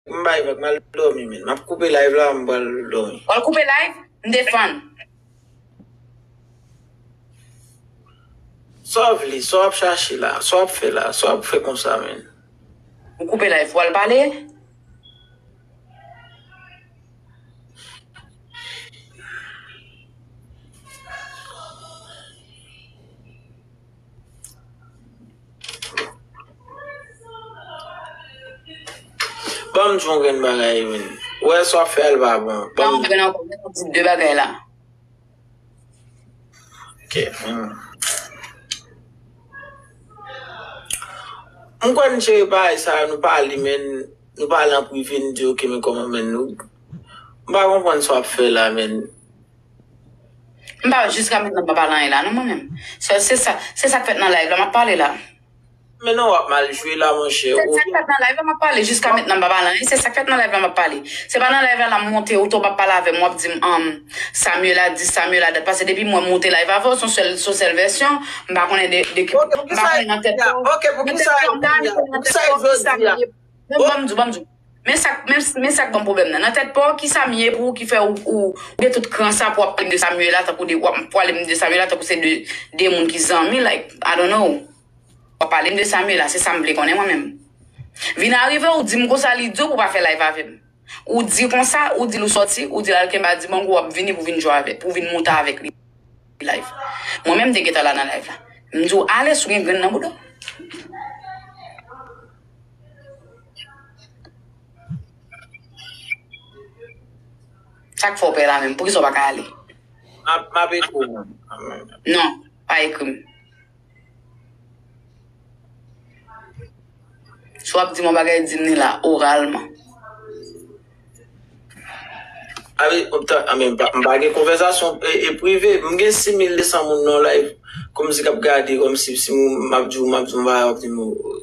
M bay vag mal domi menn. Map koupe live la m pral domi. Wal koupe live? M defann. Sa w vle? Sa wap chache la? Sa wap fè la? Sa wap fè konsa menn? M koupe live pou wal pale? Banm jwen grenn bagay yo menn. Ou wè sa wap fè a li pa bon. Banm Banm grenn ankò menm di de bagay la. Ok. Hmm. M kwè n jere bagay sa yo nou pale menn nou pale an prive nou di ok men kòman menn nou m pa konprann sa wap fè la menn. M pa wè jiska mennam pa pale anyen la non mwen menm. Sèl se sa, se sak fèt nan live la map pale la. Men non wap mal jwe la monchè ou. Se sak fèt nan live la map pale jiska mentnan m pa pale anyen se sak fèt nan live la map pale. Se pa nan live la la monte ou to pa pale avèm wap dim an Samuela di Samuela dat pase depi mwen monte live avèw son sèl son sèl vèsyon m pa konnen de de Ok poukisa e di a ok poukisa e di a poukisa e vle di a. Bon banm di w banm di w. Men sa k men sa k ban m pwoblèm nan. Nan tèt pa w, ki sa m ye pou ou ki fè ou ou gen tout kran sa pou w ap pale m de Samuella tankou de w ap pale m de Samuella tankou se de de moun ki zanmi like I don't know. W ap pale m de Samuella, se sa m vle konnen mwen menm. Vin arive ou di m konsa li di w pou w pa fè live avè m. Ou di konsa, ou di l ou sòti, ou di l al kenbe a Dibango w ap vini pou w vin jwe avè pou w vin monte avèk li live. Mwen menm m te gentan la nan live la. M di w ale si w gen grenn nan bouda w. Sak fè w pè la menm? Poukisa w pa ka ale? M ap ekri w menm. Non, pa ekri m. Si w ap di m yon bagay, di m li la, oralman. Anmwey, m pa gen konvèsasyon prive. M gen 6200 moun nan live, kòmsi k ap gade, kòmsi m ap di w, m ap di w m pa di w.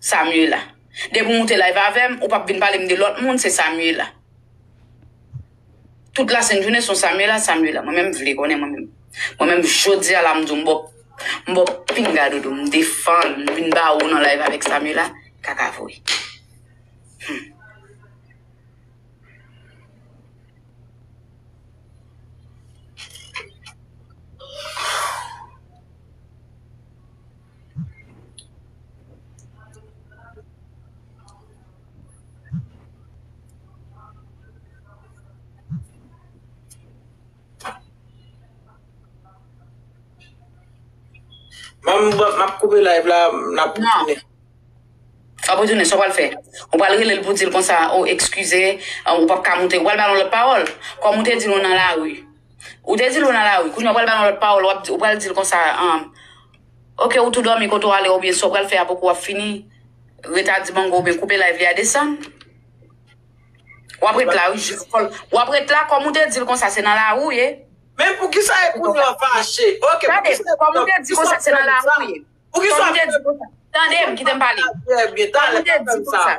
Samuela. Depi w moute live avè m, ou pap vin pale m de lòt moun, se Samuela. Tout lasent jounen son Samuela, Samuela. Mwen menm vle konnen mwen menm. Mwen menm jodi a la m di w m ba w m ba w pinga dodo m defann m vin ba ou nan live avèk Samuela, kaka vre. Hum. Mam bwa map koupe live la nap retounen. Sa pou tounen, sa pral fè. Ou pral rele l pou di l konsa, o ekskize, ou pap ka moute. Ou pral ba l yon lòt pawòl. Kòm ou te di l ou nan lari. Ou te di l ou nan lari. Kounye a ou pral ba l yon lòt pawòl, ou pral di l konsa, Ok ou tou domi kote w ale oubyen sa w pral fè aprè kou wap fini ret a dibango oubyen koupe live li a desann wap ret la wi jis kòl wap ret la kòm ou te dil konsa se nan lari w ye Men poukisa e kounye an fache ok poukisa kòm ou te di konsa se nan lari w ye poukisa w te di konsa tande m kite m pale kòm ou te di konsa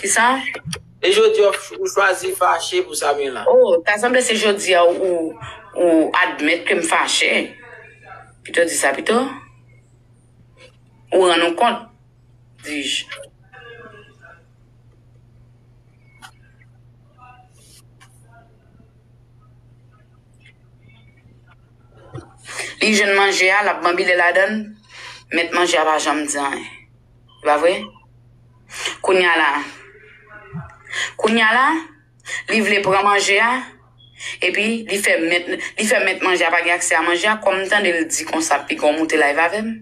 Kisa? E jodi a ou chwazi fache pou Samuella? Oh, ta sanble se jodi a ou ou admèt ke m fache. Pito di sa pito. Ou rann ou kont, dis-je. Li jwenn manje a, l ap banbile ladan l, mèt manje a pa janm di anyen. Se pa vre? Kounya la Kounya la Li vle pran manje a Epi li fè mèt Li fè mèt manje a pa gen aksè a manje a Kòm m tande l di konsa piga w moute live avè m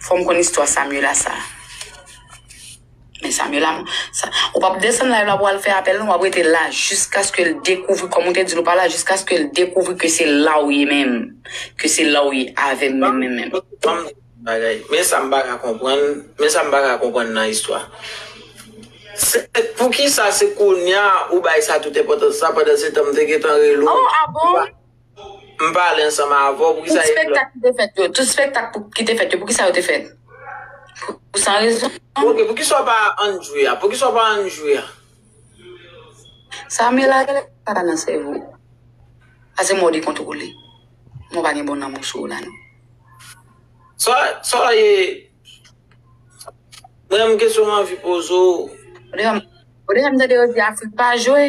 Fò m konn istwa Samuela sa. Men Sam yo la m sa ou pap desann live la pou al fè apèl non wap rete la jiskaske l dekouvri kòm ou te di l ou pa la jiskaske l dekouvri ke se la ou ye menm ke se la ou ye avè m menm menm menm. Banm di w yon bagay men sa m pa ka konprann men sa m pa ka konprann nan istwa se poukisa se kounya ou bay sa tout enpòtans sa pandansetan m te gentan rele w. Oh a bon? M pale ansanm avè w, pou ki sa yo te fèt? Tout spektak ki te fèt yo, pou ki sa yo te fèt? Pou san rezon. Ok, pou ki sa w pa ann jwe a? Pou ki sa w pa ann jwe a? Sa mela genlè pa nan sèvo w. A se mò dekontwole. Mò pa gen bon lanmou sou w la non. Sa, sa e. Mwen menm kesyon m anvi poze w. Ou deja, ou deja m tande yo di Afrik pa jwe?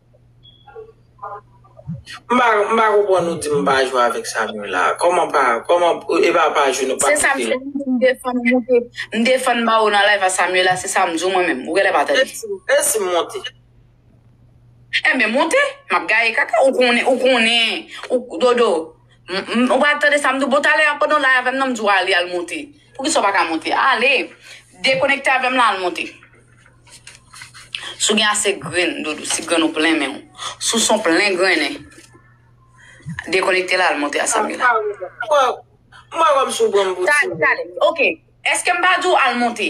M pa m pa konprann ou di m pa jwe avèk Samuel la. Kòman pa kòman e pa pa jwe nou pa Se sa m fè m defann m monte m defann ba ou nan live a Samuela se sa m di w mwen menm ou genlè pa tande. E si m monte? Enben monte, m ap gaye kaka ou konnen ou konnen ou Dodo m ou pa tande sa m di w bon talè a pandan w la avè m nan m di w ale al monte. Poukisa w pa ka monte? Ale! Dekonekte avè m la al monte. Si w gen ase grenn, Dodo, si grenn ou plen men w, si w son plen grennen, dekonekte la al monte a Samuel. Sa w menm? Mwen wè w si w pran m pou timoun. Tale, tale. Ok. Eske m pa di w al monte?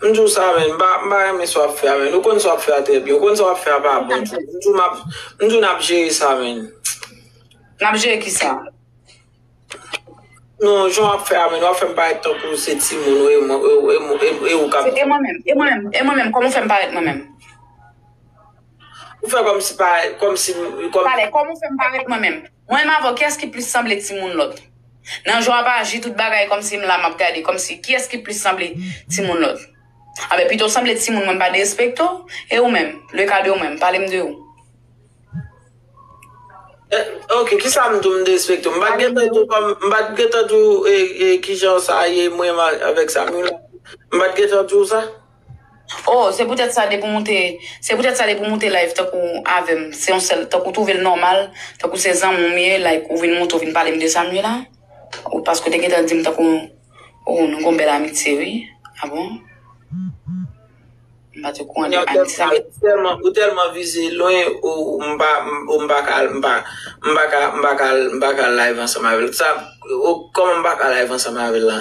M di w sa men, m pa renmen sa w ap fè a men. Ou konn sa w ap fè a trè byen. Ou konn sa w ap fè a pa bon. M di w n ap jere sa men. N ap jere ki sa? Non, jan w ap fè a men, w ap fè m parèt tankou se timoun ou e ou k ap. E mwen menm, e mwen menm, e mwen menm, kòman w fè m parèt mwen menm? Ou fè kòmsi pa kòmsi m kòm. Pale, kòman ou fè m pa ret mwen menm? Mwen menm avè w kiyès ki plis sanble timoun lòt? Nan jan w ap aji tout bagay kòmsi m la m ap gade kòmsi kiyès ki plis sanble timoun lòt? Anben pito w sanble timoun mwen m pa derespekte w e ou menm, le ka de ou menm, pale m de ou. Ok, kisa m di w m derespekte w? M pa t gen tan di w kòm m pa t gen tan di w e e kijan sa ye mwen menm avèk Samuella? M pa t gen tan di w sa? Oh se poutèt sa depi w moute se poutèt sa depi w moute live tankou avè m se yon sèl tankou w twouve l nòmal tankou se zanmi w m ye like ou vin moute ou vin pale m de sa m ye la ou paske w te gentan di m tankou oh nou gen yon bèl amitye wi ah bon m pa t okouran de amitye sa men ou tèlman vize lwen ou m pa ou m pa ka m pa m pa ka m pa ka live ansanm avè l sa kòman m pa ka live ansanm avè l la.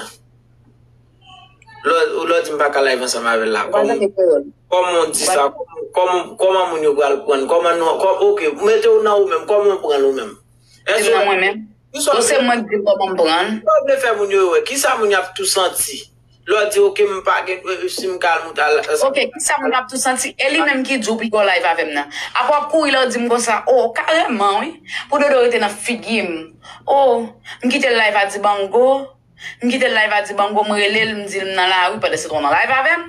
Ou lè w di m pa ka live ansanm avè l la, kòman w di sa, kòman moun yo pral pran l, kòman nou, ok, mete w nan ou menm, kòman w pran l ou menm? Mete m nan mwen menm? Bon se mwen k di l kòman m pran l? Kisa w vle fè moun yo wè? Kisa moun yo ap tou santi? Lè w di ok m pa gen, si m ka al mwen pral al. Ok, kisa moun yo ap tou santi? E li menm ki di w pou l gen yon live avè m nan? Aprè w ap kouri lè w di m konsa, o, karèman wi, pou Dodo rete nan figi m, o, m kite l live a Dibango. M kite l live a di bango m rele l m di l m nan lari pandan se tan w nan live avè m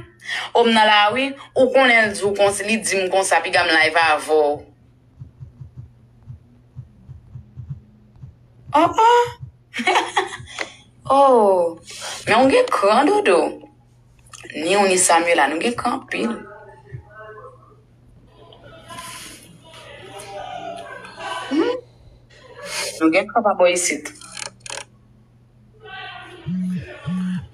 oh m nan lari ou konnen l di w konsa li di m konsa piga m live avè w oh oh oh men w gen kran dodo ni w ni Samuella nou gen kran anpil. Nou gen kran pa bò isit.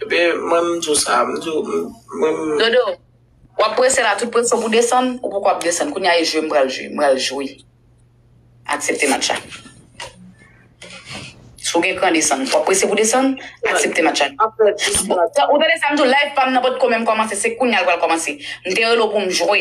Epi mwen m di w sa, m di w m mwen m. Dodo, wap prese la tout presyon pou desann, ou poko ap desann. Kounya e jwe m pral jwe, m pral jwe. Aksepte match la. Si w gen kran desann. Wap prese pou desann, aksepte match la. Ou tande sa m di w, live pa m nan potko menm kòmanse, se kounya l pral kòmanse. M te rele w pou m jwe.